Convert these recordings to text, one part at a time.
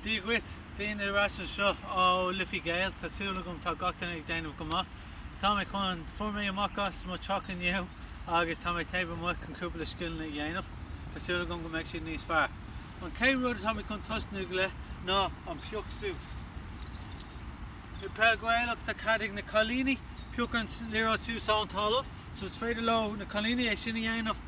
Dia dhuit, Donna ar ais anseo ó Liffey Gaels, tá súil agam tá gach duine ag déanamh go maith. Tá mé chun, fuair mé amach as mo teach inniu agus tá mé taobh amuigh chun cúpla scileanna a dhéanamh, tá súil agam go mbeidh siad níos fearr. An chéad rud atá mé chun tosnú le ná an pioc suas. I bpeil Gaelach tá cead ag na cailíní pioc an liathróid suas ón talamh so is féidir leo, na cailíní, é sin a dhéanamh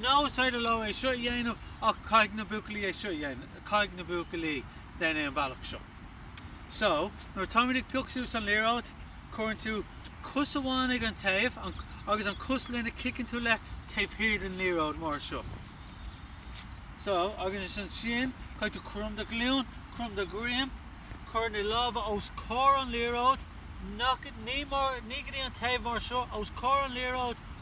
nó is féidir leo é seo a dhéanamh ach caithfidh na buachaillí é seo a dhéanamh. caithfidh na buachaillí déan é an bealach seo. So, nuair a táimid ag pioc suas an liathróid, cuireann tú cos amháin ag an taobh agus an cos lena chiceann tú le taobh thiar den liathróid mar seo. So, agus ansin, caithfidh tú crom do ghlúin, crom do dhroim, cuir na lámha os comhair an liathróid, nach, ní mar, ní go dtí an taobh mar seo, os comhair an liathróid,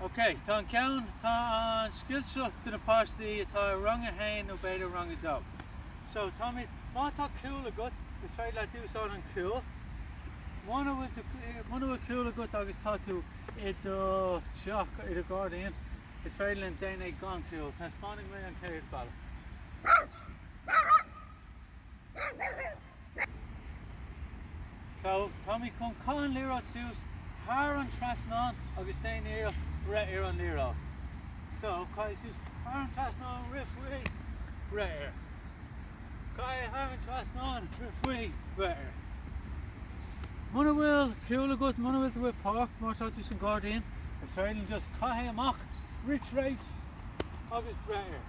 OK, tá an ceann, tá an scil seo do na páistí atá i rang a haon nó b'fhéidir rang a dó. So táimid, má tá cúl agat, is féidir leat úsáid an cúl. Muna bhfuil tú, muna bhfuil cúl agat agus tá tú i do teach, i do ghairdín, is féidir leat déan é gan cúl. Taispeánfaidh mé an chéad bhealach. So tá mé chun caith an liathróid suas thar an trasnán agus déan iarracht breith ar an liathróid. So, caith í suas thar an trasnán, rith faoi, breith ar. Caith í thar an trasnán, rith faoi, breith ar. Muna bhfuil cúl agat, muna bhfuil tú i páirc, má tá tú san gairdín, is féidir leat just caith é amach, rith tríd agus breith ar.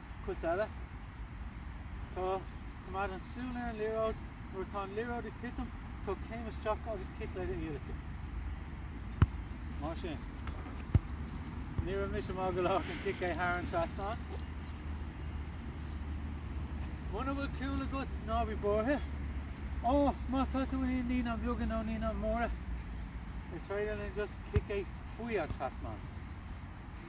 Cos eile. Tá. Coimeád an súil ar an liathróid. Nuair atá an liathróid ag titim, tóg céim isteach agus cic le d'iallacha. Mar sin. Ní raibh mise maith go leor chun cic é thar an trasnán. Muna bhfuil cúl agat, ná bí buartha. Ó, má tá tú i naíonáin bheaga nó naíonáin mhóra, is féidir leat just cic é faoi an trasnán.